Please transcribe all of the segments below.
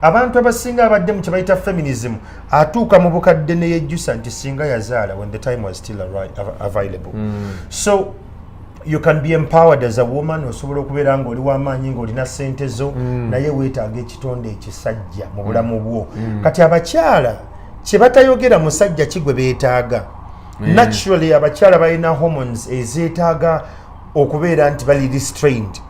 abantu abasinga abadde mu kyebayita feminism atuuka mu bukadde neyejjusa nti singa yazaala when the time was still available mm. so you can be empowered as a woman osobola okubeera nga oli wamaanyi ngaolina sente zo mm. naye weetaaga ekitonde ekisajja mu bulamu mm. bwo mm. kati abakyala kyebatayogera musajja kigwe beetaaga mm. naturally abakyala balina hormones ezeetaaga okubeera nti bali restrained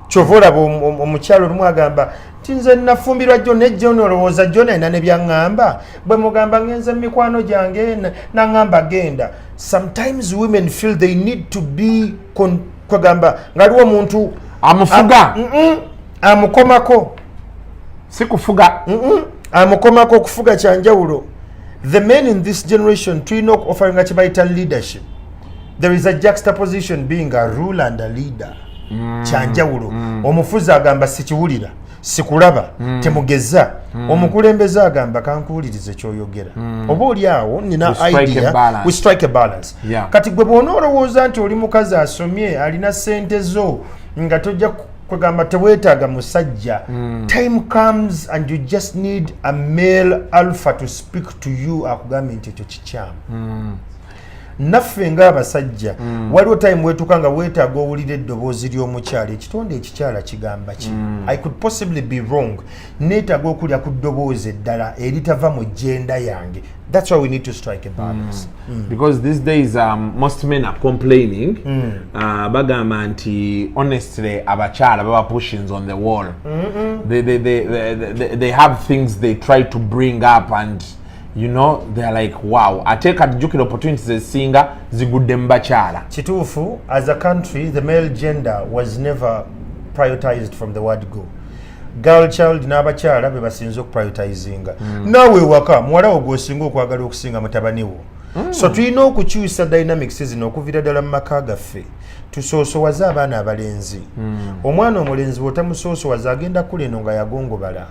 kyova olaba omukyala olumu agamba tinze nafumbirwa jo ne jo nolowooza jo nalina ne byaŋŋamba bwe mugamba ŋenze mu mikwano gyange naŋŋamba genda sometimes women feel they need to be kwegamba ngaliwo omuntu amufuga amukomako si kufuga amukomako okufuga kyanjawulo the men in this generation tulina okuofaringa kyebayita leadership there is a juxtaposition being a rule and a leader mm. kyanjawulo mm. omufuzi agamba sikiwulira sikulaba mm. temugeza mm. omukulembeze agamba kankuwulirize kyoyogera mm. oba oli awo nina idea we strike a balance yeah. kati gwe bwona olowooza nti oli mukazi asomye alina sente zo nga tojja kwegamba tewetaaga musajja mm. time comes and you just need a male alpha to speak to you akugambe nti ekyo kikyamu mm. naffe ngaabasajja mm. waliwo time wetuka nga wetaaga owulira eddoboozi ly'omukyalo ekitonde ekikyala kigamba ki mm. i could possibly be wrong neetaaga okulya ku ddoboozi eddala eritava mu jenda yange that's why we need to strike a balance mm. Mm. because these days um, most men are complaining mm. uh, bagamba nti honestly abakyala baba pushings on the wall mm -mm. They, they, they, they, they, they have things they try to bring up and you know they're like wow ate kati jukira opportunities ezisinga zigudde mu bakyala kituufu as a country the male gender was never prioritized from the word go girl child n'abakyala be basinze okuprioritizinga mm. naawe waka muwala wo gwosinga okwagala okusinga mutabani wo mm. so tulina okukyusa dynamics zino okuvira ddala mu maka gaffe tusoosowaze abaana abalenzi mm. omwana omulenzi bwotamusoosowaze agenda kula eno nga yagongobala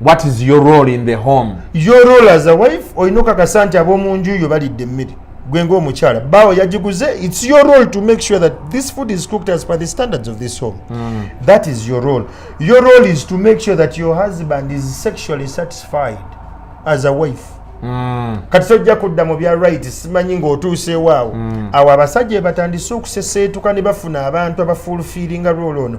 what is your role in the home your role as a wife olina okakasa nti ab'omu nju yo balidde emmere gwe ngaomukyala baawo yagiguze its your role to make sure that this food is cooked as per the standards of this home mm. that is your role your role is to make sure that your husband is sexually satisfied as a wife mm. kati tojja kudda mu bya right simanyi ng'otuuseewaawo mm. awo abasajja ebatandise okuseseetuka ne bafuna abantu abafuulfiiringa role ono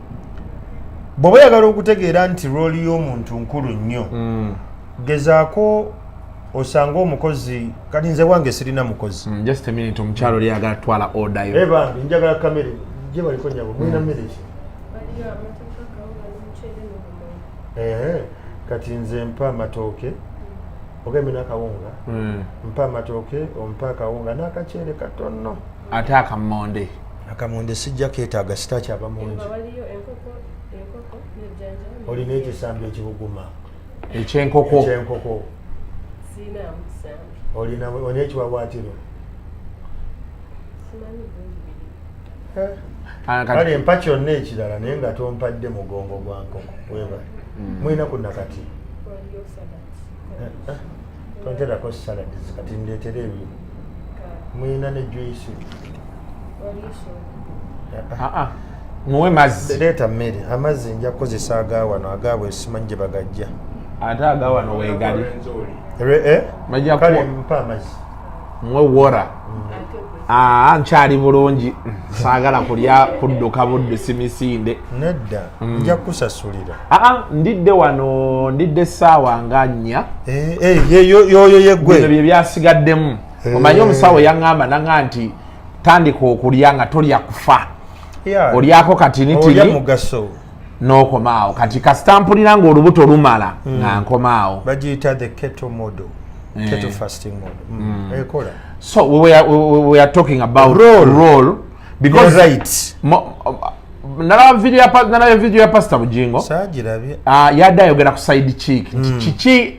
bwoba oyagala okutegeera nti rooli y'omuntu nkulu nnyo mm. gezaako osanga omukozi kati nze wange sirina mukozi mm, just a minute omukyalo oli ayagala twala order yo ebambi eh, njagala kamere gye baliko nyabo mulina mm. mmere ki eh, kati nze mpa amatooke ogembe nakawunga mm. mpa amatooke ompa akawunga n'akaceere katono mm. ate akamonde akamonde sijja ketaaga sitakyava mungi olina ekisambi ekibuguma ekyenkoko ekyenkoko olina olina ekiwawaatiro ah, kale empa kyonna ekirala naye nga tompadde mugongo gwa nkoko weba mm. mulina ku nakati tonterako saladizi kati ndeetera ebyo mulina ne juisi muwe mazzi leeta mmere amazzi nja kukozesa agawano agaabwe simanyi gye bagajja ate agawano wegali eh? kale mpa amazzi mwe wora aa nkyali bulungi saagala kulya kudduka buddusi misinde nedda mm. nja kukusasulira aa ndidde wano ndidde essaawa nga nnya eh, eh, yoyo yegwe bino bye byasigaddemu eh. omanyi omusawo yaŋŋamba naŋa nti tandika okulya nga tolya kufa olyako katinitini nokomaawo kati kasita mpulira nga olubuto lumala mm. nga nkomaawo bagiyita the keto model eh. keto fasting model mm. mm. ekola so we were, we, we were talking about role, role because right nalaba video ya nalaba video ya pastor bujingo sajirabye ah yada ayogera ku side chick mm. kiki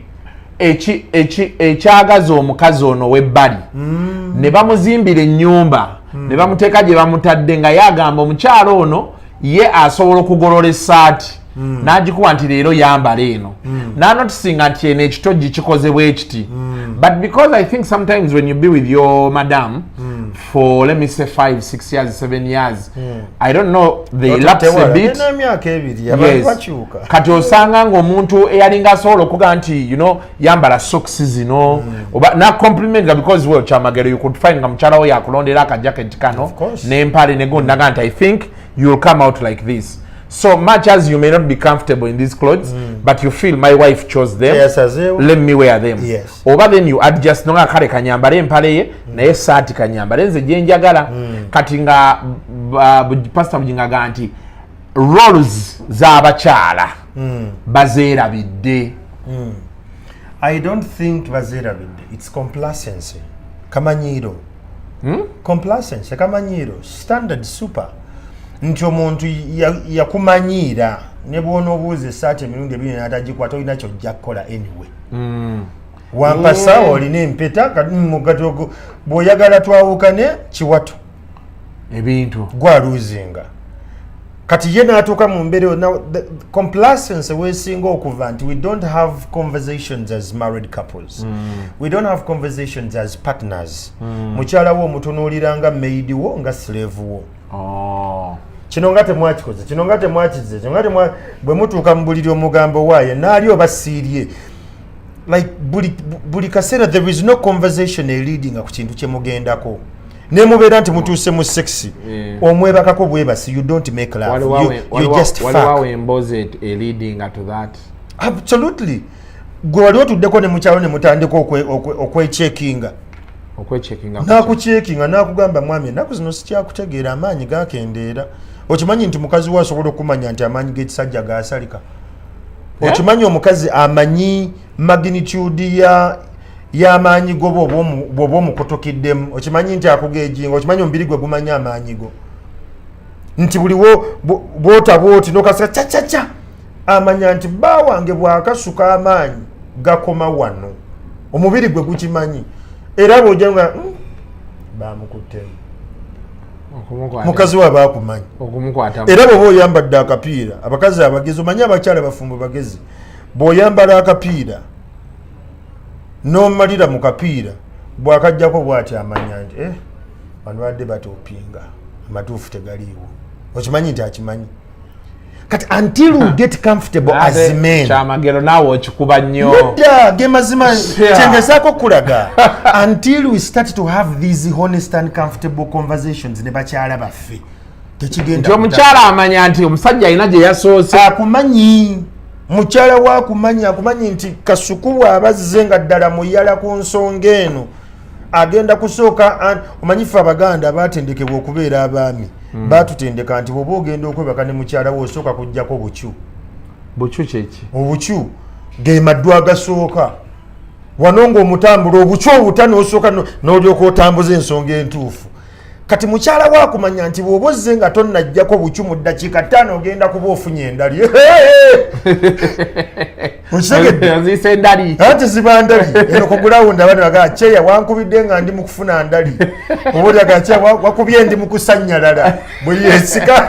eki eki ekyagaza omukazi ono webbali mm. ne bamuzimbira ennyumba mm. ne bamuteeka gye bamutadde nga yagamba omukyalo ono ye asobola okugolola esaati mm. nagikuba nti leero yambala eno mm. nanotisinga nti eno ekitojji kikozebwa ekiti mm. but because i think sometimes when you be with your madam mm. for let me say five six years seven years mm. i don't know they laps a bit yes. kati osanga ngaomuntu eyalinga asobola okuga nti you know yambala socks zino mm. oba na compliment nga because well chamagero you could find nga mukyala wo yakulondera aka jacket kano n'empale ne gonda nga nti i think you will come out like this so much as you may not be comfortable in these clothes mm. but you feel my wife chose them yes, let me wear them yes. oba then you adjust nonga kale kanyambale empale ye mm. naye saati kanyambale nze gyenjagala mm. kati nga uh, pastor bujingaga nti roles z'abakyala mm. bazeerabidde mm. i don't think bazeerabidde its complacency kamanyiiro hmm? complacency kamanyiiro standard super nti omuntu yakumanyiira ya ne bwonoobuuza esaati emirundi ebiri natagikwata olina kyojja kukola anyway mm. wampasawo olina empeta kati mugati bwoyagala twawukane kiwato ebintu gwaluzinga kati ye natuuka mu mbeera yona complacency wesinga okuva nti we don't have conversations as married couples mm. we don't have conversations as partners mm. mukyala wo omutunuulira nga maid wo nga slave wo oh. kino nga temwakikoze kino nga temwakize kino nga bwe mutuuka mu buliri omugambo waaye naali oba siirye like buli, buli kaseera there is no conversation eliadinga ku kintu kye mugendako ne mubeera nti mutuuse mu sexy eh. omwebakako bwebasi you don't make love you, you just fuck waliwo embozi elidinga to that absolutely gwe wali otuddeko ne mukyalo ne mutandika okwechekinga okwechekinga nakuchekinga nakugamba mwami enaku zino sikyakutegeera amaanyi gakendeera okimanyi nti mukazi we asobola okumanya nti amaanyi g'ekisajja gasalika eh? okimanyi omukazi amanyi magnitude ya y'amaanyi go bwoba omukutukiddemu okimanyi nti akugeejinga okimanyi omubiri gwe gumanyi amaanyi go nti buliwo bwotaba oti nokasika cacaca amanya nti bba wange bwakasuka amaanyi gakoma wano omubiri gwe gukimanyi era bwoja nga hmm, bamukuttemu mukazi waba akumanyi era bwoba oyambadde akapiira abakazi abagezi omanyi abakyala bafumbo bagezi bwoyambala akapiira nomalira mu kapiira bwakajjako bwati amanya nti eh, bano badde batopinga amatuufu tegaliiwo okimanyi nti akimanyi kati until we get comfortable as men chamagero nawe okikuba nnyo nedda ge mazima kyengezaako okulaga until we start to have these honest and comfortable conversations ne bakyala baffe nti omukyala amanya nti omusajja alina gye yasoose akumanyi mukyala we akumanyi akumanyi nti kasuku bw'aba azze nga ddala muyala ku nsonga eno agenda kusooka omanyife abaganda baatendekebwa okubeera abaami hmm. baatutendeka nti bwoba ogenda okwebaka ne mukyala we osooka kujjako bukyu bukyu kyeki obukyu ge maddu agasooka wano ng'omutambula obukyu obutano osooka n'olyoka otambuza ensonga entuufu kati mukyala wakumanya nti bwoba ozze nga tonnajjako bucu mu ddakiika ttaano ogenda kuba ofunye endali okitegeddeziisa endali anti ziba ndali eno kugulawundi abana bagaa kyeya wankubidde nga ndi mu kufuna ndali obaolyaga kyeya wakubye ndi mu kusanyalala bwe yesika